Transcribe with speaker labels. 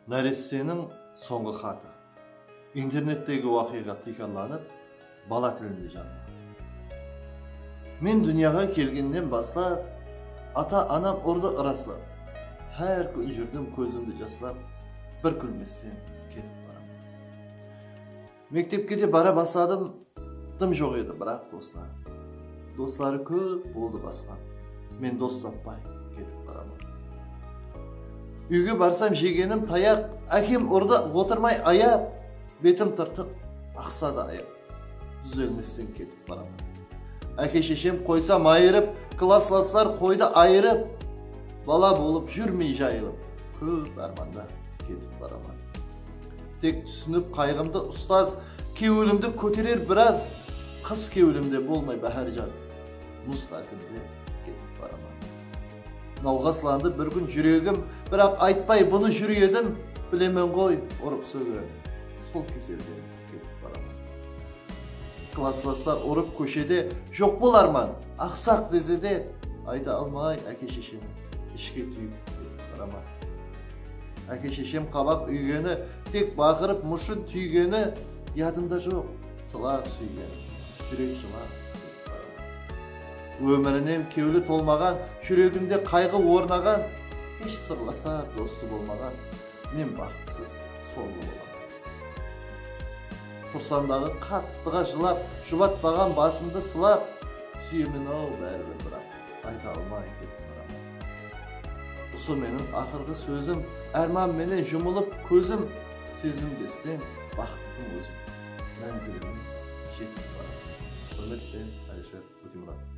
Speaker 1: Náresteniń sońǵı xatı. Internettegi waqıyǵa tiykarlanıp, bala tilinde jazılǵan. Men dúnyaǵa kelgennen baslap, ata-anam urdı ırası. Hár kún júrdim kózimdi jaslap, bir kúlmesten ketip baraman. Mektepke de bara basladım dım joq edi biraq doslar dosları kóp boldı basqa men dos tappay ketip baraman úyge barsam jegenim tayaq ákem urdı otırmay ayap betim tırtıq aqsa da ayap dúzelmesten ketip baraman áke sheshem qoysa mayırıp klasslaslar qoydı ayırıp bala bolıp júrmey jayılıp kóp ármanda ketip baraman. Tek túsinip qayǵımdı ustaz Kewlimdi kóterer biraz Qıs kewlimde bolmay báhár jaz Muz tárpinde ketip baraman Nawǵaslandı bir kún júregim Biraq aytpay bunı júr edim Bilemen ǵoy urıp-sóge sol keselden Ketip baraman. Klaslaslar urıp kóshede joq bolarman, aqsaq dese de ayta almay áke-sheshemi ishke túyip ketip baraman. Áke-sheshem qabaq úygeni, tek baqırıp mushın túygeni yadımda joq, sılap súygenim, júrek jılap ketip baraman. Ómirinen kewli tolmaǵan, júreginde qayǵı ornaǵan, hesh sırlasar dosı bolmaǵan men baxıtsız, sońǵı bolaman. Qursandaǵı qattıǵa jılap. Jubatpaǵan basımdı sılap. Súyemen-aw báribir biraq. Ayta almay ketip baraman. Usı meniń aqırǵı sózim. Árman menen jumılıp kózim. Sezim desteń baxıttıń ózin. Mánzilimin jetip baraman. Húrmetpen Alisher Ótemuratov.